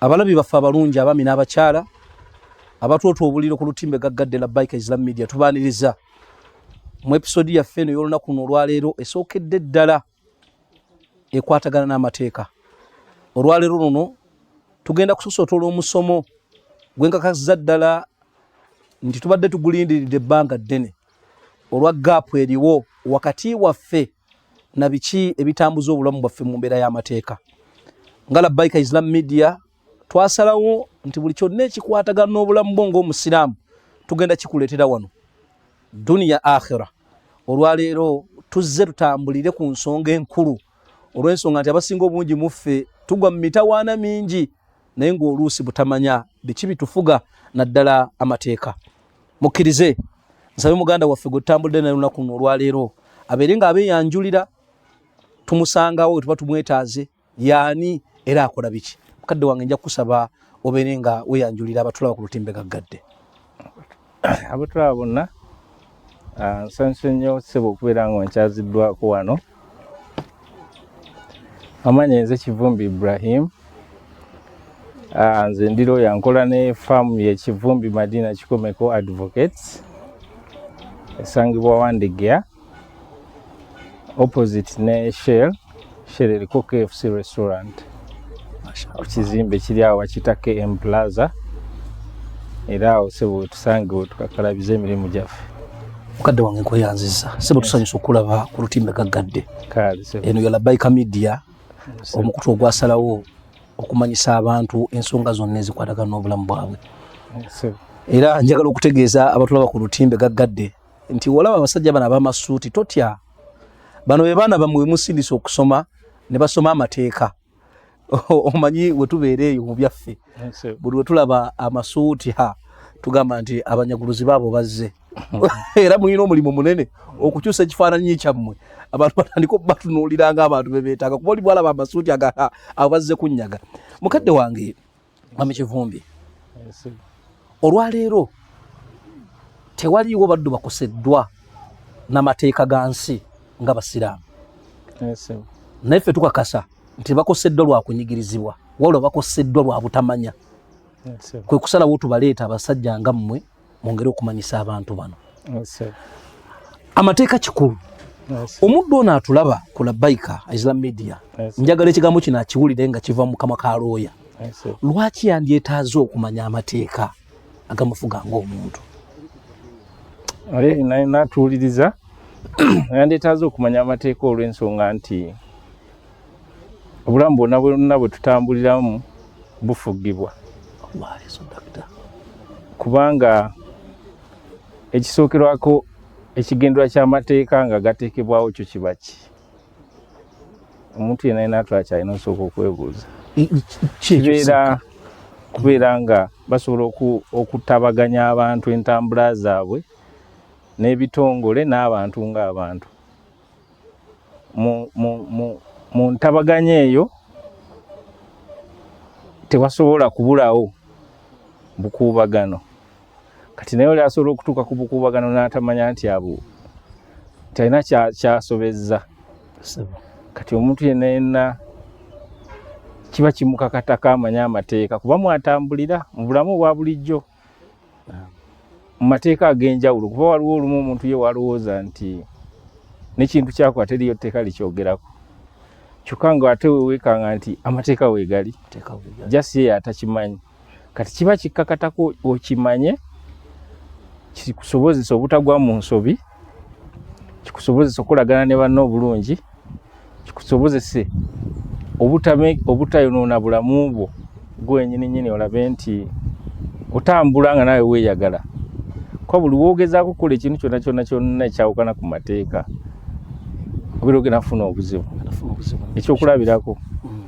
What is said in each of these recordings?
abalabi baffe abalungi abami n'abakyala abatwotwa obuliro ku lutimbe gaggadde la bike islam media tubaaniriza mu episodi yaffe eno y'olunaku luno olwaleero esookedde ddala ekwatagana n'amateeka olwaleero luno tugenda kusosotola omusomo gwenkakasiza ddala nti tubadde tugulindiridde ebbanga ddene olwa gaapu eriwo wakati waffe na biki ebitambuza obulamu bwaffe mu mbeera y'amateeka nga labbaika islam media twasalawo nti buli kyonna ekikwatagana n'obulamu bwo ng'omusiraamu tugenda kikuleetera wano duniya akhira olwaleero tuzze tutambulire ku nsonga enkulu olw'ensonga nti abasinga obungi mu ffe tugwa mu mitawaana mingi naye ng'oluusi butamanya biki bitufuga naddala amateeka mukkirize nsabe muganda waffe gwe tutambudde naye lunaku luno olwaleero abeere nga abeeyanjulira tumusangawo wetuba tumwetaaze yaani era akola biki mukadde wange nja kukusaba obeere nga weyanjulira abatulaba ku lutimbe gaggadde abatulaba bonna ah, nsanyuse nnyo sebo okubeera nga nkyaziddwako wano amanya nze kivumbi ibrahim ah, nze ndi looya nkola ne faamu yekivumbi madina kikomeko advocates esangibwa wandegea opposite ne shell shell eriko kfc restaurant ku kizimbe kiri awo bakiyita km plaza era awo sebo wetusange wetukakalabiza emirimu gyaffe mukadde wange nkweyanziza sebo tusanyusa okulaba ku lutimbe gaggadde eno yalabaika media omukutu ogwasalawo okumanyisa abantu ensonga zonna ezikwatagana n'obulamu bwabwe era njagala okutegeeza abatulaba ku lutimbe gaggadde nti olaba abasajja bano abamasuuti totya bano be baana bamwe musindisa okusoma ne basoma amateeka omanyi we tubeera eyo mu byaffe buli we tulaba amasuuti ha tugamba nti abanyaguluzi baabo bazze era mulina omulimu munene okukyusa ekifaananyi kyammwe abantu batandika obatunuulira nga abantu bebeetaaga kuba oli bwalaba amasuuti agaa abazze kunyaga mukadde wange Mami Kivumbi, olwaleero tewaliiwo baddu bakoseddwa na mateeka ga nsi nga Basiraamu. Naye ffe tukakasa nti bakoseddwa lwa kunyigirizibwa, wabula bakoseddwa lwa butamanya. Kwe kusalawo tubaleeta abasajja nga mmwe. mwongere okumanyisa abantu bano amateeka kikulu omuddu ono atulaba ku labaika isla media njagala ekigambo kino akiwulire nga kiva mu kamwa ka looya lwaki yandyetaaze okumanya amateeka agamufuga ngaomuntu natuwuliriza yandyetaaze okumanya amateeka olw'ensonga nti obulamu bwonna bwonna bwe tutambuliramu bufugibwa kubanga ekisookerwako ekigendera ky'amateeka nga gateekebwawo kyo kiba ki omuntu yena yena atwala kyalina osooka okwebuuza kibeera kubeera nga basobola okutabaganya abantu entambula zaabwe n'ebitongole n'abantu ng'abantu mu ntabaganya eyo tewasobola kubulawo bukuubagano kati naye oli asobola okutuuka ku bukuubagano n'atamanya nti abo talina kyasobezza kati omuntu yenna yenna kiba kimukakatako amanya amateeka kuba mwatambulira mu bulamu obwa bulijjo mu mateeka ag'enjawulo kuba waliwo olumu omuntu ye walowooza nti nekintu kyakola teriyo tteeka likyogerako kyokka nga ate wewekanga nti amateeka wegali jasi yeyo atakimanyi kati kiba kikkakatako okimanye kikusobozesa obutagwa mu nsobi kikusobozesa okolagana ne banno obulungi kikusobozese obutayonoona bulamu bwo gwenyini nyini olabe nti otambula nga nawe weyagala kuba buli wogezaako okukola ekintu kyona kyona kyonna ekyawukana ku mateeka obeera ogenda kufuna obuzibu ekyokulabirako mm.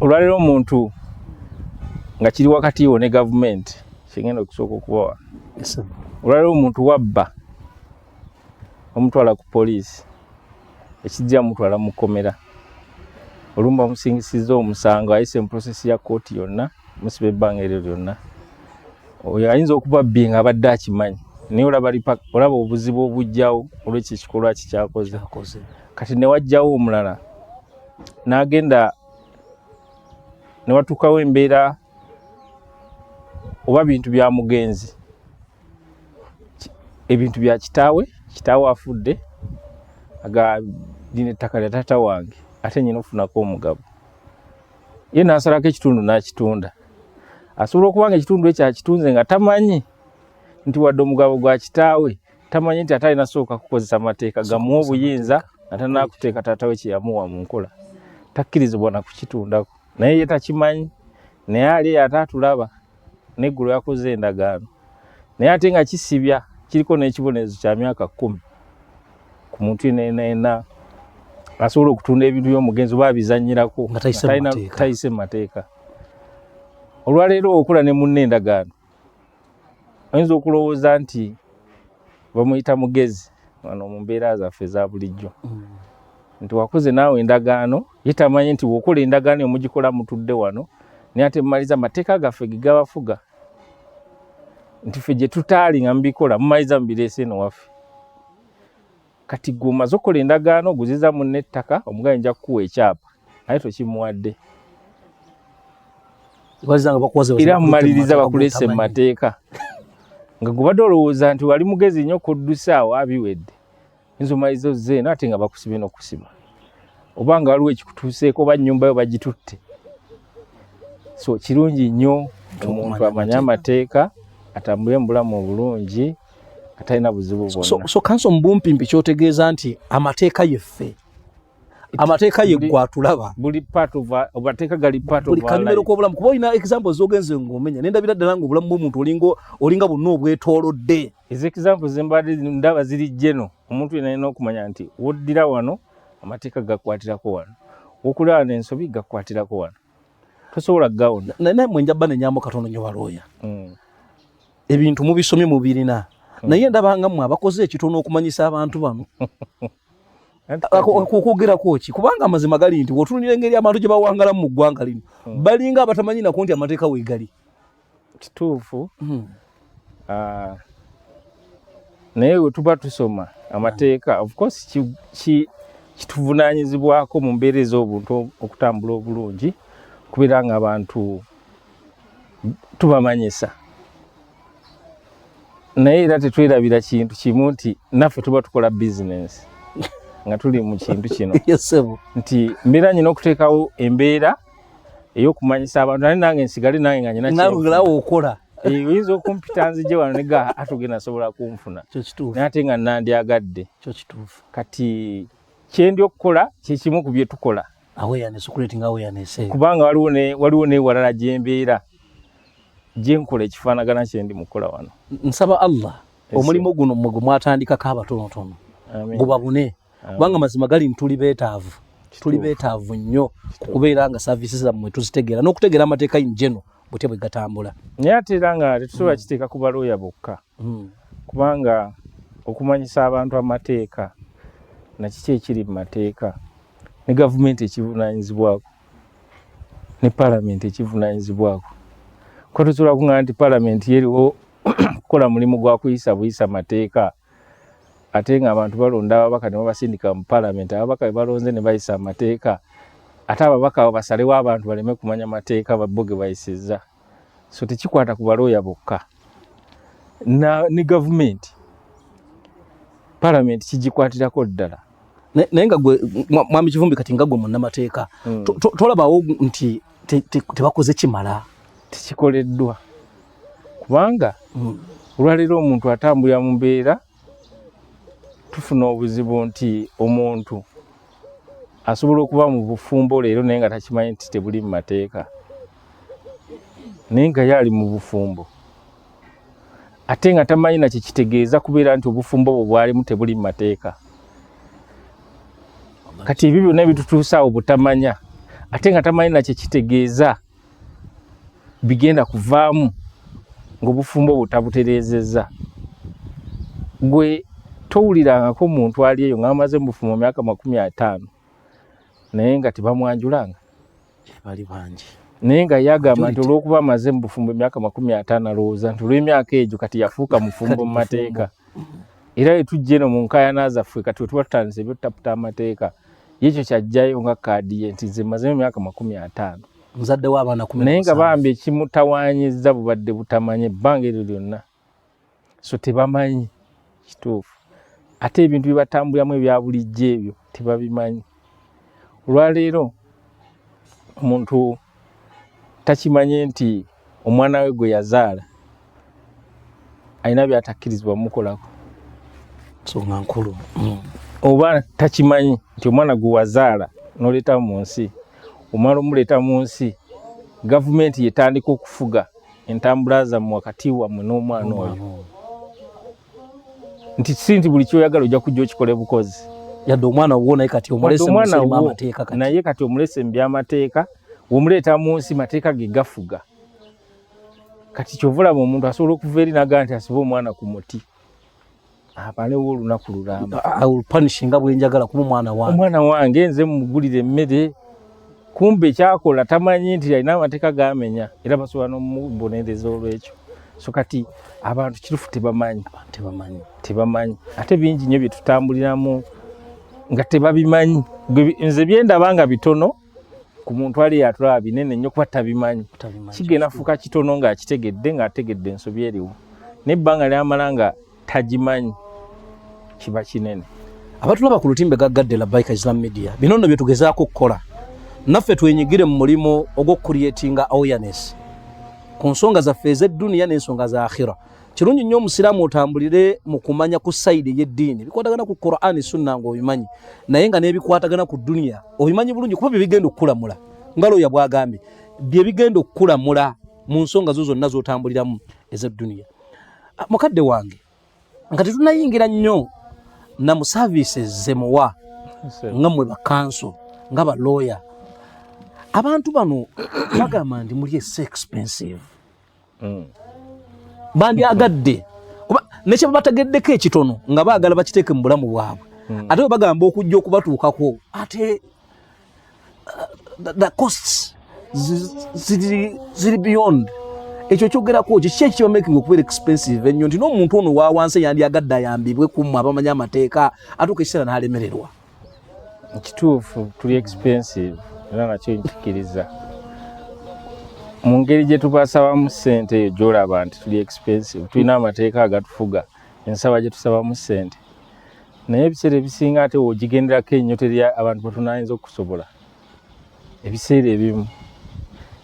olwaleero omuntu nga kiri wakati wo ne gavumenti kyengenda okusooka okubawa olwaliwo omuntu wabba omutwala ku poliisi ekijja mutwala mu kkomera olumba omusingisizza omusango ayise mu prosesi ya kooti yonna musiba ebbanga eryo lyonna oyo ayinza okuba bbi nga abadde akimanyi naye olaba olaba obuzibu obujjawo olwekyo ekikolwa kikyakoze kati newajjawo omulala n'agenda newatuukawo embeera oba bintu bya mugenzi ebintu bya kitaawe kitaawe afudde aga lino ettaka lya taata wange ate nyina ofunako omugabo ye nasalako ekitundu nakitunda asobola okuba nga ekitundu ekyo akitunze nga tamanyi nti wadde omugabo gwa kitaawe tamanyi nti ate alina sooka kukozesa amateeka gamu obuyinza nga tanakuteeka taata we kyeyamuwa mu nkola takkirizibwa nakukitundako naye ye takimanyi naye ali eyo ate atulaba neggulu yakoze endagaano naye ate nga kisibya kiriko n'ekibonerezo kya myaka kkumi ku muntu enaena asobola okutunda ebintu by'omugenzi oba abizanyirako nga tayise mu mateeka olwaleero okula ne munna endagaano oyinza okulowooza nti bamuyita mugezi wano mu mbeera zaffe eza bulijjo mm. nti wakoze naawe endagaano ye tamanyi nti wokola endagaano emugikola mutudde wano naye ate mumaliza amateeka gaffe gegabafuga nti fe gyetutaali nga mubikola mumaliza mubireese eno waffe kati gwe omaze okukola endagaano oguziza munne ettaka omugaye nja kukuwa ekyapa naye tokimuwadde era mumaliriza bakuleese mu mateeka nga gubadde olowooza nti wali mugezi nnyo kuddusa awo abiwedde yinza omaliriza ozze eno ate nga bakusibye n'okusima oba nga waliwo ekikutuuseeko oba nnyumba yo bagitutte so kirungi nnyo omuntu amanye amateeka atambule mu bulamu obulungi atalina buzibu bwonna so, so kanso mbumpimpi kyotegeeza nti amateeka yeffe amateeka ye gwatulaba buli part of amateeka gali part of buli kalimero ko bulamu kuba ina example zogenze ngomenya nenda bira dalanga obulamu bw'omuntu olingo olinga bunno obwetolodde is example zembade ndaba ziri jeno omuntu yena yena okumanya nti woddira wano amateeka gakwatirako wano wokulaba n'ensobi gakwatirako wano tosobola gawona naye naye mwenja bane nyambo katono nyo balooya mm. ebintu mubisomye mubirina hmm. naye ndabanga mwe abakoze ekitono okumanyisa abantu bano okwogerako ki kubanga amazima gali nti wotunulira engeri abantu gye bawangalamu mu ggwanga lino hmm. balinga abatamanyi nako nti amateeka wegali kituufu hmm. ah, naye wetuba tusoma amateeka ofcourse kituvunanyizibwako mu mbeera ez'obuntu okutambula obulungi kubeera nga abantu tubamanyisa naye era tetwerabira kintu kimu nti naffe tuba tukola bizinensi nga tuli mu kintu kino nti mbeera nyina okuteekawo embeera ey'okumanyisa abantu naye nange nsigale nange nga nyinakirawo okola eh, oyinza okumpita nzije wano nega atugenda asobola kunfuna naye ate nga nandyagadde kati kyendi okukola kyekimu ku byetukola awareness creating awareness eh. kubanga waliwo ne waliwo ne walala jembeera jenkola ekifanagana kyendi mukola wano nsaba Allah omulimu guno mwe gwatandika ka batono tono gubabune kubanga mazima gali ntuli betaavu tuli betaavu nnyo kubeera nga services zammwe tuzitegeera n'okutegeera amateeka in general butya bwe gatambula naye ate era nga tetusobola mm. kiteeka ku balooya bokka mm. kubanga okumanyisa abantu amateeka nakiki ekiri mu mateeka ne gavumenti ekivunaanyizibwako ne palamenti ekivunaanyizibwako kuba tusobola kuŋŋana nti palamenti yeriwo kukola mulimu gwa kuyisa buyisa mateeka ate ng'abantu balonda ababaka ne babasindika mu palamenti ababaka be balonze ne bayisa amateeka ate ababaka abo basalewo abantu baleme kumanya mateeka babbo ge bayisizza so tekikwata ku balooya bokka ne gavumenti palamenti kigikwatirako ddala naye nga gwe mwami kivumbi kati nga gwe munnamateeka hmm. tolabawo nti tebakoze kimala tekikoleddwa kubanga hmm. olwaleero omuntu atambulira mu mbeera tufuna obuzibu nti omuntu asobola okuba mu bufumbo leero naye nga takimanyi nti tebuli mu mateeka naye nga yaali mu bufumbo ate nga tamanyi nakyo kitegeeza kubeera nti obufumbo bwe bwalimu tebuli mu mateeka kati ebyo byonna ebitutuusaawo butamanya ate nga tamanyi nakyo kitegeeza bigenda kuvaamu ng'obufumbo bwo tabutereezezza gwe towulirangako muntu ali eyo nga amaze mubufumbo myaka makumi ataano naye nga tebamwanjulanga bali bangi naye nga yagamba nti olwokuba amaze mubufumbo emyaka makumi ataano alowooza nti olw'emyaka egyo kati yafuuka mufumbo mu mateeka era etujja eno mu nkayana zaffe kati wetuba tutandise ebyotaputa amateeka yekyo kyajjayo nga kaadi ye nti nze mazemu emyaka makumi ataano muzadde w'abaana kumi naye nga bambi ekimutawaanyizza bubadde butamanya ebbanga eryo lyonna so tebamanyi kituufu ate ebintu bye batambulamu ebya bulijjo ebyo tebabimanyi olwaleero omuntu Takimanyi nti omwana we gwe yazaala alina byatakkirizibwa mukolako nsonga nkulu mm. oba takimanyi nti omwana gwe wazaala n'oleeta mu nsi omala omuleeta mu nsi gavumenti yetandika okufuga entambula zammwe wakati wammwe n'omwana oyo nti si nti buli kyoyagala ojja kujja okikola ebukozi yadde omwana wuwo naye kati omulesnaye kati omulese mu byamateeka womuleeta mu nsi mateeka ge gafuga kati kyovulaba omuntu asobola okuva eri naga nti asibe omwana ku muti abalewo olunaku lulambapunishinga bwenjagala kuba omwana wange omwana wange nze mugulira emmere kumbe kyakola tamanyi nti alina amateeka gamenya era basobola nomubonereza olwekyo so kati abantu kirufu tebamanyi tebamanyi tebamanyi ate bingi nyo byetutambuliramu nga tebabimanyi nze byendaba nga bitono ku muntu ali yatulaba binene nyo kuba tabimanyi kigenda fuuka kitono nga akitegedde nga ategedde ensobi eriwo naye ebbanga lyamala nga tagimanyi kiba kinene abatulaba ku lutimbe gaggadde la bike islam media bino nno byetugezaako okukola naffe twenyigire mu mulimu ogwokukuriatinga awareness ku nsonga zaffe ezedduniya n'ensonga za akhira kirungi nnyo omusiraamu otambulire mu kumanya ku sayidi ey'eddiini bikwatagana ku qurani sunna nga obimanyi naye nga n'ebikwatagana ku duniya obimanyi bulungi kuba byebigenda okukulamula nga looya bwagambye byebigenda okukulamula mu nsonga zo zonna zotambuliramu ezedduniya ah, mukadde wange nga tetunayingira nnyo na mu services zemuwa nga mwe bakanso nga balooya abantu bano bagamba nti muli ese expensive mm. bandyagadde kuba nekyebabategeddeko ekitono nga baagala bakiteeke mu bulamu bwabwe mm. ate bwe bagamba okujja okubatuukako ate the costs ziri beyond ekyo kyogerako kiki ekiba making okubeera expensive ennyo nti n'omuntu ono wawansi yandyagadde ayambibwe kumu abamanyi amateeka atuuka ekiseera n'alemererwa kituufu tuli expensive era nakyo nkikiriza mu ngeri gye tubasabamu ssente eyo gyolaba nti tuli expensive tulina amateeka agatufuga ensaba gye tusabamu ssente naye ebiseera ebisinga ate wogigenderako enyo teri abantu batunayinza okusobola ebiseera ebimu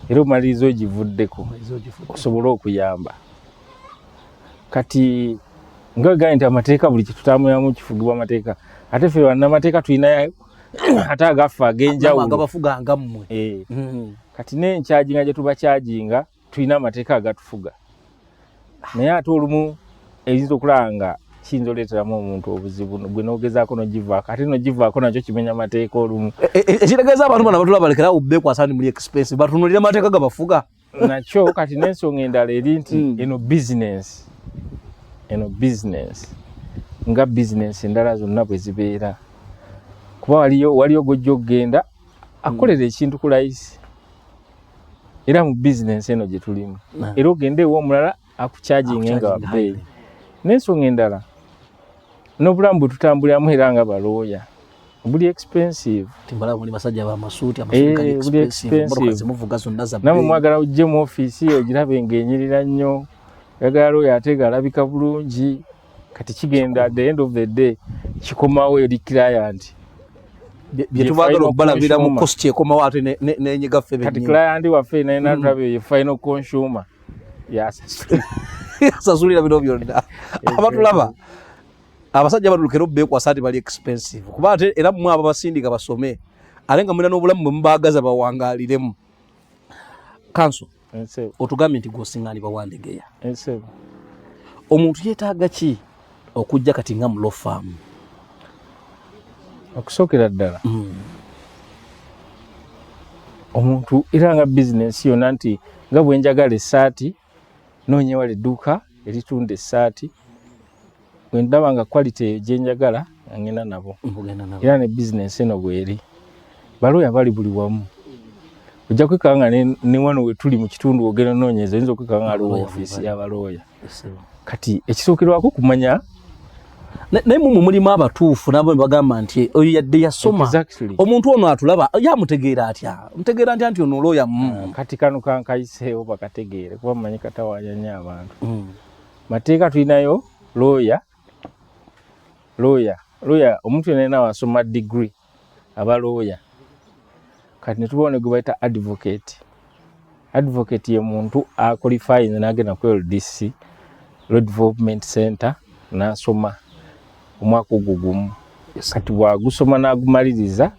era omaliriza ogivuddeko osobole okuyamba kati nga gaye nti amateeka buli kyetutambulamu kifugibwa amateeka ate fe banamateeka tulinayo ate agaffe agenjawulo eh. hmm. kati nenkyaginga gyetubakyajinga tulina amateeka agatufuga naye ate olumu eyinza okulaba nga kiyinza oleeteramu omuntu obuzibu gwe nogezaako nogivaako ate nogivaako nakyo kimenya amateeka olumu e, e, e, ekitegeeza abantu bana batula balekera awo bekwasa ndi muli expense batunulira amateeka gabafuga nakyo kati n'ensonga endala eri nti hmm. eno bizinensi eno bizinensi nga bizinensi endala zonna bwe zibeera kuba waliyo waliyo gojja okugenda akolera ekintu ku layisi era mu business eno gye tulimu mm. era ogende ewa omulala akukyajinge nga wabbeeyi n'ensonga endala n'obulamu bwe tutambuliramu era nga balooya buli expensive timbala muli basajja ba masuti amasuka eh, expensive mbona zimuvuga zonna za namu mwagala ujje mu office yo girabe ngenyirira nnyo yagala oyo atega alabika bulungi kati kigenda the end of the day kikomawo eri client byetubagala okubalabira mu cost ekomawo ate nenyiga ffe kati client waffe nayenatulabe mm. ye final consumer yasasulira bino byonna abatulaba abasajja batulukera obekwasa nti bali expensive kuba ate era mwe abo basindika basome ate nga mulina n'obulamu bwe mubaagaza bawangaliremu kanso otugambye nti gwosingaani bawandegeya omuntu yetaaga ki okujja kati nga mulo faamu okusookera ddala hmm. omuntu era nga bizinensi yona nti nga bwenjagala esaati noonyewala edduuka eritunda esaati bwe ndaba nga quality gye njagala nga ngenda nabo era ne bizinensi eno bweri balooya bali buli wamu ojja kwekanga nga ne wano we tuli mu kitundu ogenda onoonyeza oyinza okwekanga nga aliwo ofiisi y'abalooya kati ekisookerwako kumanya naye mumu mulimu abatuufu nabo nebagamba nti oyo yadde yasoma omuntu ono atulaba yamutegeera atya mutegeera ntya nti ono olooya mu ah, kati kano kankayiseewo bakategeere kuba mumanyi katawanya nyo abantu mm. Mateeka tulinayo looya looya looya omuntu yena yena wasoma degree aba looya kati netubawo ne gwebayita advocate advocate ye muntu akolifayinze nagenda ku ldc law development center nasoma omwaka ogwo gumu kati bwagusoma n'agumaliriza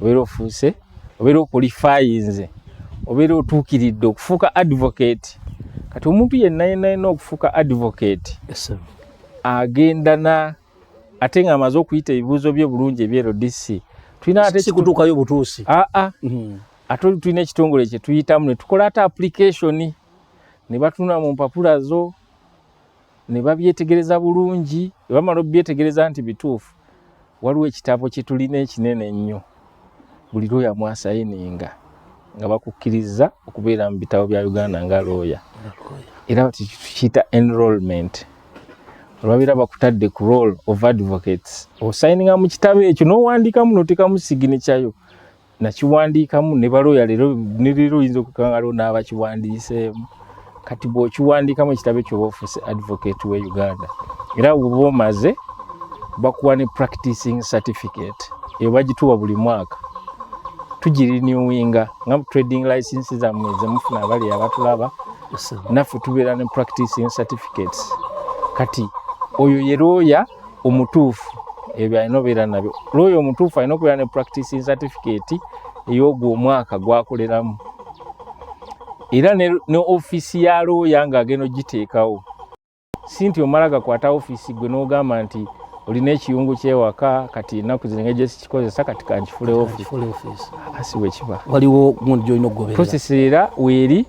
obeera ofuuse obeera okulifayinze obeera otuukiridde okufuuka advocate kati omuntu yenna yenna yenna okufuuka advocate agenda na ate nga amaze okuyita ebibuuzo bye bulungi ebye rdc tulinasikutuukayo butuusi aa ah, ah. mm-hmm. ate oli tulina ekitongole kye tuyitamu ne tukola ate application ne batunula mu mpapula zo ne babyetegereza bulungi ne bamala obyetegereza nti bituufu waliwo ekitabo kye tulina ekinene ennyo buli looya mwasayininga nga bakukkiriza okubeera mu bitabo bya uganda nga looya era batikiyita enrollment olwabeera bakutadde ku role of advocates osayininga mu kitabo ekyo n'owandiikamu notekamu siginikyayo nakiwandiikamu ne balooya leero ne leero oyinza okukangaloo n'abakiwandiiseemu kati bw'okiwandiikamu ekitabo ekyo oba ofuuse advocate we uganda era woba omaze bakuwa ne practicing certificate eyo bagituwa buli mwaka tugirinewinga nga trading license zammwe zemufuna abali abatulaba naffe tubeera ne practicing certificates kati oyo ye looya omutuufu ebyo alina obeera nabyo looya omutuufu alina okubeera ne practicing certificate ey'ogwo omwaka gwakoleramu era ne, ne ofiisi ya looya ng'agenda ogiteekawo si nti omala gakwata ofiisi gwe n'ogamba nti olina ekiyungu kyewaka kati enaku zino engeri gyesikikozesa kati kankifulewo ofiisi asi bwekiba waliwo gundi gyolina okugoberera era weeri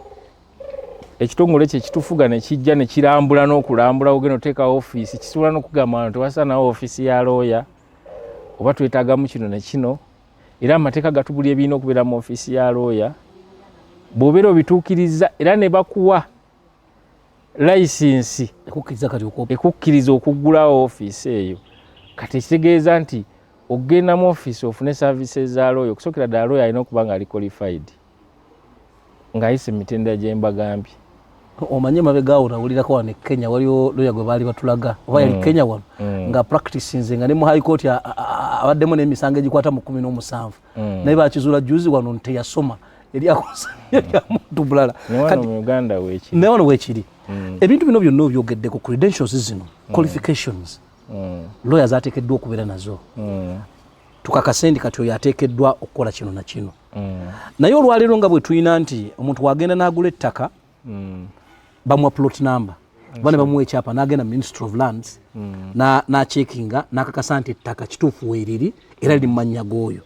ekitongole kye kitufuga ne kijja ne kirambula n'okulambula ogenda oteeka ofiisi kisobola n'okugamba nti wasanawo ofiisi ya looya oba twetaagamu kino ne kino era amateeka gatubuli ebirina okubeera mu ofiisi ya looya bw'obeera obituukirizza era ne bakuwa layisinsi ekukkiriza okuggulawo ofiisi eyo kati ekitegeeza nti okugenda mu ofiisi ofune services za looya okusookera ddala looya alina okuba ng'ali qualified ng'ayise mu mitendera gye mbagambye omanyi emabega awo nawulirako wano e kenya waliwo loya gwe baali batulaga oba yali mm. kenya wano mm. nga practice nze nga ne mu high court abaddemu n'emisango egikwata mu kumi n'omusanvu mm. naye bakizuula juzi wano nti teyasoma eryakosamuntu bulala naye wano wekiri ebintu bino byonna obyogeddeko credentials zino qualifications loya zateekeddwa okubeera nazo tukakasendi kati oyo ateekeddwa okukola kino na kino mm. naye olwaleero nga bwetulina nti omuntu wagenda nagula ettaka mm. bamuwa plot number oba ne bamuwa ekyapa nagenda ministry of lands mm. nacekinga nakakasa nti ettaka kituufu weriri era liri mumanya g'oyo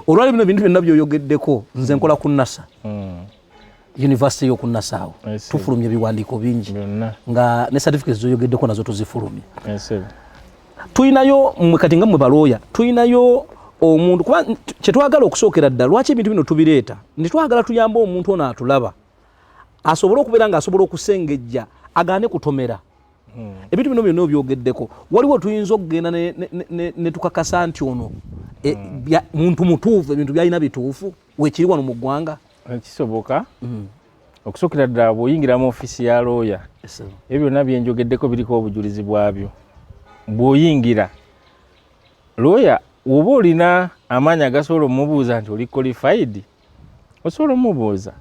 olwali bino bintu byonna byoyogeddeko nze nkola ku nasa yunivasite y'oku nasaawo tufulumya ebiwandiiko bingi nga ne certificates zoyogeddeko nazo tuzifulumya tulinayo mwe kati nga mwe balooya tulinayo omuntu kuba kyetwagala okusookera ddala lwaki ebintu bino tubireeta nti twagala tuyambe omuntu ono atulaba asobole okubeera nga asobola okusengejja agaane kutomera hmm. ebintu bino byonna obyogeddeko waliwo tuyinza okugenda netukakasa nti ono eh, hmm. muntu mutuufu ebintu byalina bituufu wekiri wano mu ggwanga eh, kisoboka mm. okusookera ddala bw'oyingira mu ofiisi ya looya ebyo byonna byenjogeddeko biriko obujulizi bwabyo bw'oyingira looya woba olina amaanyi agasobola omubuuza nti oli qualified osobola omubuuza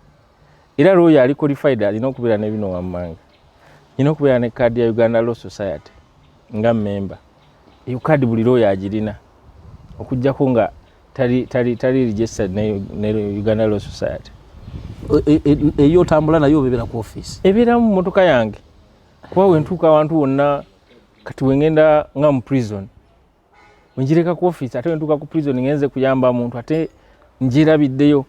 era looyo ali qualified alina okubeera ne bino wammanga nina okubeera ne kaadi ya uganda law society nga memba eyo kaadi buli looyo agirina okujjako nga tali, tali, tali registered ne, ne uganda law society e, e, e, eyo otambula nayo obebera ku office ebeera mu motoka yange kuba wentuuka awantu wonna kati wengenda nga mu prison wenjireka ku office ate wentuuka ku prison ngenze kuyamba muntu ate njirabiddeyo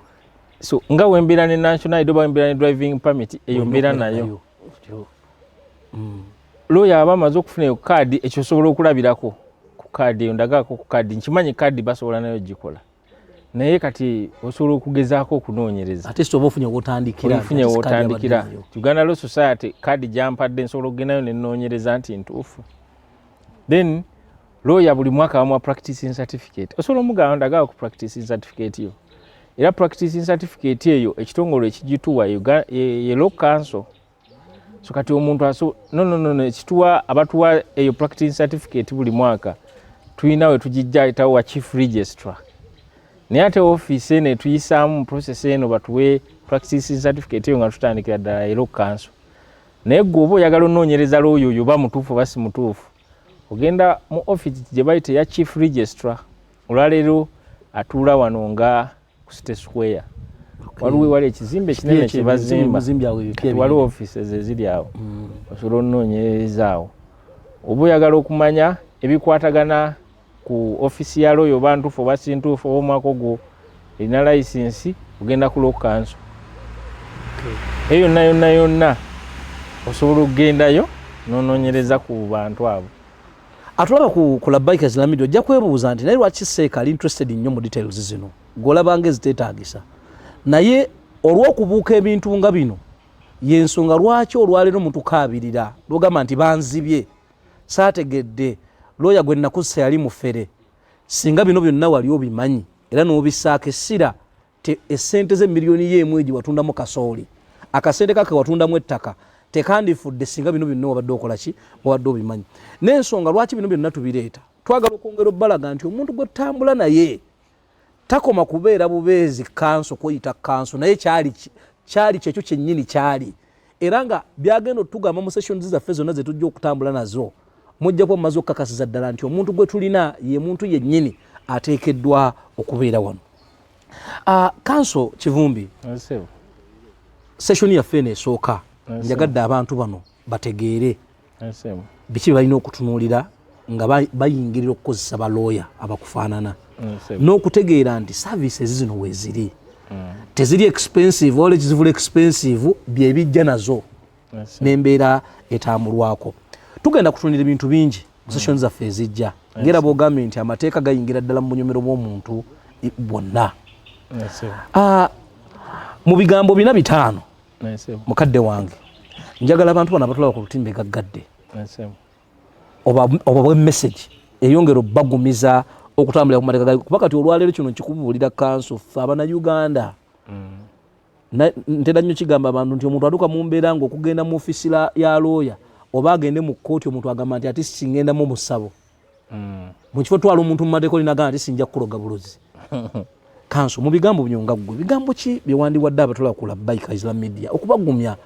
so nga wembeera ne national id oba wembeera ne driving permit eyo mbeera nayo mm. looya aba amaze okufuna eyo kaadi ekyo osobola okulabirako ku kaadi eyo ndagaako ku kaadi nkimanyi kaadi basobola nayo gikola naye kati osobola okugezaako okunoonyereza ofunye wotandikira uganda law society kadi gyampadde nsobola okugendayo nenoonyereza nti ntuufu then looya buli mwaka wamwa practicing certificate osobola omugamba ndagala ku practicing certificate yo era practicing certificate eyo ekitongole ekigituwa ye law council so kati omuntu aso no no no ekituwa abatuwa eyo practicing certificate buli mwaka tulina we tugijja etawo wa chief registrar naye ate office eno etuyisaamu process eno batuwe practicing certificate eyo nga tutandikira ddala era okukanso naye gwe oba oyagala onoonyereza looyo oyo oba mutuufu oba si mutuufu ogenda mu office gye bayita eya chief registrar olwaleero atuula wano nga ku City Square waliwo ewali ekizimbe kinene kyebazimba waliwo offices eziri awo mm. osobola onoonyerereza awo oba oyagala okumanya ebikwatagana ku ofisi ya looyo oba ntuufu oba sintuufu oba omwaka ogwo erina layisinsi ogenda ku loo kanso eyo yonna yonna yonna osobola okugendayo nonoonyereza ku bantu abo atulaba ku, ku labaika zilamidi ojja kwebuuza nti naye lwaki seeka ali interested nnyo mu details zino golabanga eziteetaagisa naye olw'okubuuka ebintu nga bino yensonga lwaki olwaleero mutukaabirira lwogamba nti banzibye saategedde looya gwe nakussa yali mufere singa bino byonna wali obimanyi era n'obisaako essira te esente ze milioni ye mweji watunda mu kasoli akasente kake watunda mu ettaka tekandifudde singa bino binno wabadde okola ki wabadde obimanyi n'ensonga lwaki bino byonna tubireeta twagala okwongera obbalaga nti omuntu gwe tambula naye takoma kubeera bubeezi kanso kweyita kanso naye kyali kyali kyekyo kyennyini kyali era nga byagenda otugamba mu sessions zaffe zonna zetujja okutambula nazo mujja kuba mumaze okukakasiza ddala nti omuntu gwe tulina ye muntu yennyini ateekeddwa okubeera wano Ah, kanso kivumbi session yaffe eno esooka njagadde abantu bano bategeere biki bebalina okutunuulira nga bayingirira okukozesa balooya abakufaanana n'okutegeera nti services zino weziri mm. teziri expensive ola ekizivula expensive byebijja nazo n'embeera etambulwako tugenda kutunira ebintu bingi mu session zaffe ezijja ngera bwogambye nti amateeka gayingira ddala mu bunyomero bw'omuntu bwonna ah, mu bigambo bina bitaano mukadde wange njagala abantu bano abatulaba ku lutimbe gaggadde oba bwemesagi eyongera obubagumiza okutambulira ku mateeka kuba kati olwaleero kino nkikubuulira kanso ffe abana uganda mm. ntera nnyo kigamba abantu nti omuntu atuuka mu mbeera nga okugenda mu ofisi ya looya oba agende mu kkooti omuntu agamba nti ati singendamu musabo hmm. mu kifo twala omuntu mu mateeka olinagamba nti sinja kukuloga bulozi kanso mu bigambo byo nga ggwe bigambo ki bye wandiwadde abatula ku labbaika islam media okubagumya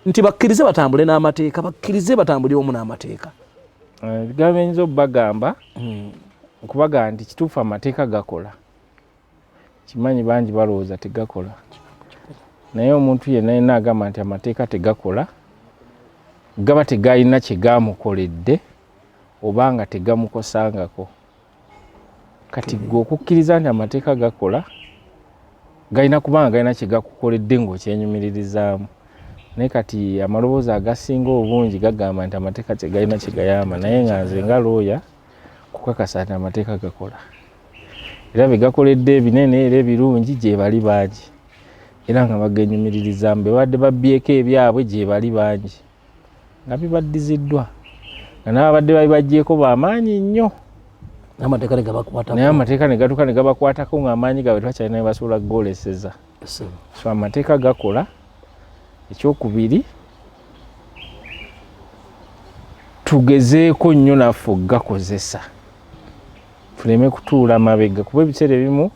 nti bakkirize batambule n'amateeka bakkirize batambule omu n'amateeka eh, ebigambo eyinza obubagamba hmm. okubagamba nti kituufu amateeka gakola kimanyi bangi balowooza tegakola naye omuntu yenna yenna agamba nti amateeka tegakola gaba tegalina kyegamukoledde oba nga tegamukosangako kati gwe okukkiriza nti amateeka gakola galina kubanga galina kyegakukoledde ngaokyenyumiririzaamu naye kati amaloboozi agasinga obungi gagamba nti amateeka tegalina kyegayamba naye nga nze nga looya kukakasa nti amateeka gakola era be gakoledde ebinene era ebirungi gyebali bangi era nga bagenyumiririzamu bebadde babbyeko ebyabwe gyebali bangi nga bibaddiziddwa nga nababadde babibajjeeko bamaanyi nnyo naye amateeka negatuuka negabakwatako ngaamaanyi gabwe twakyalina bebasuula goleseza so amateeka gakola ekyokubiri tugezeeko nnyo naffe okugakozesa tuleme kutuula mabega kuba ebiseera ebimu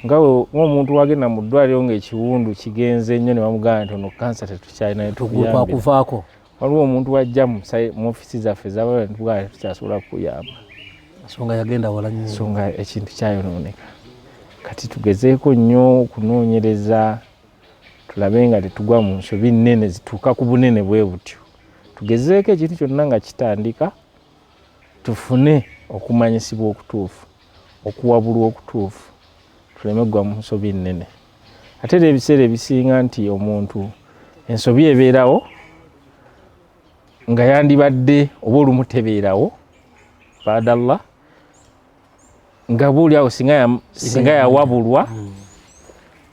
nga omuntu wagenda mu ddwaliro ngaekiwundu kigenze nnyo ne bamugamba nti ono kansa tetukyalina kwakuvaako waliwo omuntu wajja mu ofisi zaffe zabala netugala tukyasobola kukuyamba ensonga yagenda wala nyo ensonga ekintu kyayonooneka kati tugezeeko nnyo okunoonyereza tulabe nga tetugwa mu nsobi nnene zituuka ku bunene bwe butyo tugezeeko ekintu kyonna nga kitandika tufune okumanyisibwa okutuufu okuwabulwa okutuufu tuleme kugwa mu nsobi nnene ate era ebiseera ebisinga nti omuntu ensobi ebeerawo nga yandibadde oba olumu tebeerawo baadallah nga buuli awo singa yawabulwa hmm.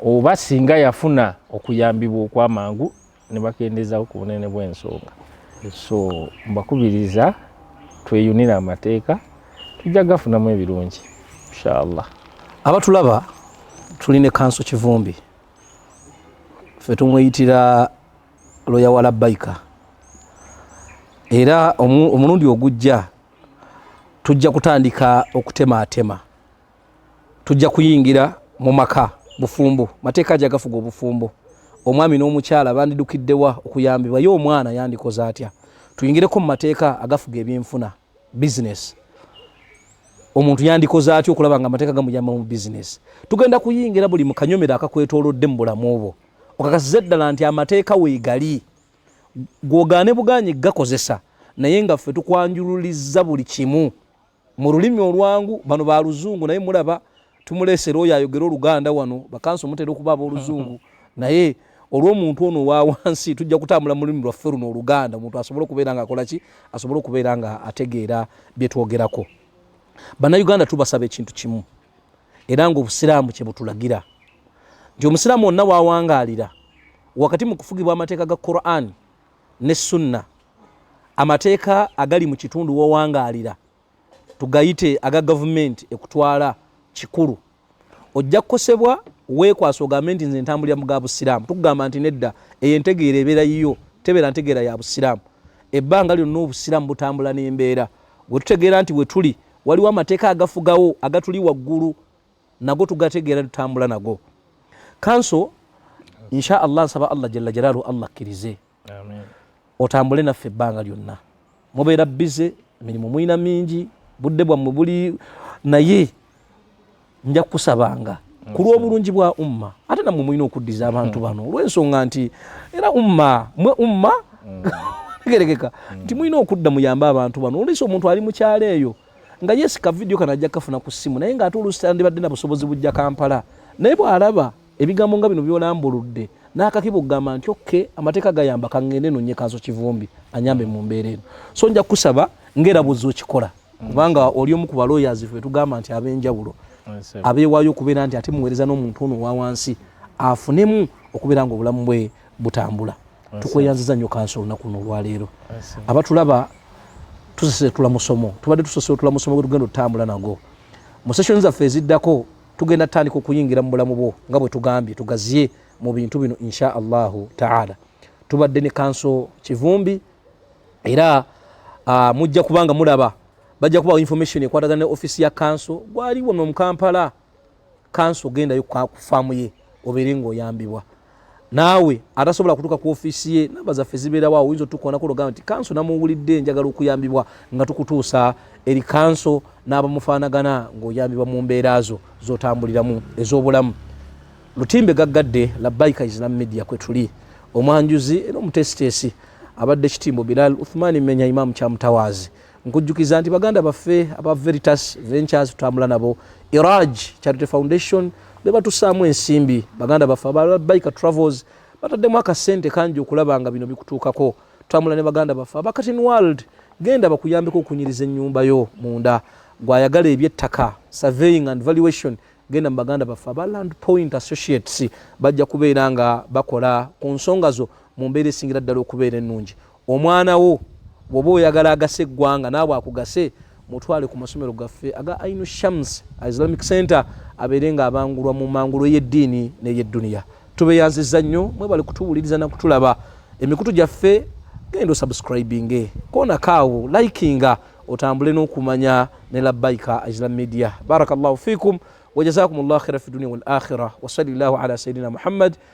oba singa yafuna okuyambibwa okwamangu ne bakendeezaako ku bunene bw'ensonga so mbakubiriza tweyunire amateeka tujja gafunamu ebirungi inshallah abatulaba tuli ne kanso kivumbi fe tumweyitira loya wa labbaika era omulundi ogujja tujja kutandika okutemaatema tujja kuyingira mu maka bufumbo mateeka aja gafuga obufumbo omwami n'omukyala bandidukiddewa okuyambibwa ye omwana yandikoze atya tuyingireko mu mateeka agafuga ebyenfuna bizinesi omuntu yandikoze atya okulaba nga amateeka gamuyamba mu bizinesi tugenda kuyingira buli mukanyomero akakwetolodde mu bulamu obwo okakasiza eddala nti amateeka weegali gwogaane bugaanyi gakozesa naye nga ffe tukwanjululiza buli kimu mu lulimi olwangu bano ba luzungu naye mulaba tumuleese looyo ayogera oluganda wano bakansi omutera okuba aboluzungu naye olwomuntu ono owawansi tujja kutambula mu lulimi lwaffe luno oluganda omuntu asobole okubeera nga akola ki asobole okubeera nga ategeera byetwogerako bannayuganda tubasaba ekintu kimu era nga obusiraamu kyebutulagira nti omusiraamu wonna wawangaalira wakati mu kufugibwa amateeka ga qurani ne sunna amateeka agali mu kitundu wowangaalira tugayite aga gavumenti ekutwala kikulu ojja kukosebwa weekwasa ogambe nti nze ntambulira mu ga busiraamu tukugamba nti nedda eyo entegeera ebeera yiyo tebeera ntegeera ya busiraamu ebbanga lyonna obusiraamu butambula n'embeera wetutegeera nti wetuli waliwo amateeka agafugawo agatuli waggulu nago tugategeera tutambula nago kanso insha allah nsaba allah jalla jalaalu allah akkirize otambule naffe ebbanga lyonna mubeera bize emirimu mulina mingi budde bwammwe buli naye nja kukusabanga ku lw'obulungi bwa umma ate nammwe mulina okuddiza abantu bano olw'ensonga nti era umma mwe umma mm. tegerekeka mm. nti mulina okudda muyambe abantu bano olwisa omuntu ali mukyalo eyo nga yes ka video kana ajja kafuna ku simu naye nga ate oluusi tandibadde na busobozi bujja kampala naye bw'alaba ebigambo nga bino byolambuludde n'akakiba okugamba nti oke amateeka gayamba kangende nonye kanso kivumbi anyambe mu mbeera eno so nja kukusaba ngaerabuzi okikola kubanga oli omu ku baloyazi fe tugamba nti ab'enjawulo abeewaayo okubeera nti ate muweereza n'omuntu ono owa wansi afunemu okubeera nga obulamu bwe butambula tukweyanziza nnyo kansi olunaku luno olwaleero abatulaba tusesetula musomo tubadde tusesetula musomo gwetugenda otutambula nago mu session zaffe eziddako tugenda tandika okuyingira mu bulamu bwo nga bwetugambye tugaziye mu bintu bino insha allahu taala tubadde ne kanso kivumbi era uh, mujja kubanga mulaba bajja kubawo information ekwatagana ne ofisi ya kanso gwaliwo nomukampala kanso gendayo kufaamu ye obeere ngaoyambibwa naawe atasobola kutuuka ku ofiisi ye namba zaffe zibeerawo awo oyinza otukoonako ologamba nti kanso namuwulidde njagala okuyambibwa nga tukutuusa eri kanso n'abamufaanagana ng'oyambibwa mu mbeera zo z'otambuliramu ez'obulamu lutimbe gaggadde labaika islam media kwe tuli omwanjuzi era omutesiteesi abadde kitimbo bilal uthmani menya imaamu kyamutawaazi nkujjukiza nti baganda baffe aba veritas ventures tutambula nabo iraj charity foundation bebatusaamu ensimbi baganda baffe ababaika travels bataddemu akasente kangi okulaba nga bino bikutuukako tutambula ne baganda baffe abakatin world genda bakuyambeko okunyiriza ennyumba yo munda gwayagala ebyettaka surveying and valuation genda mu baganda baffe aba land point associates bajja kubeera nga bakola ku nsonga zo mu mbeera esingira ddala okubeera ennungi Omwana wo bwoba oyagala agase eggwanga naawe akugase mutwale ku masomero gaffe aga Ainu Shams Islamic Center abeere nga abangulwa mu mangulo ey'eddiini n'ey'edduniya. Tubeyanziza nnyo mwebale kutuwuliriza na kutulaba emikutu gyaffe genda osubscribinge koonako awo likinga otambule n'okumanya ne labbaika Islam Media. Barakallahu fikum wa jazakumullahu khaira fi dunia wal akhira wa sallallahu ala sayidina Muhammad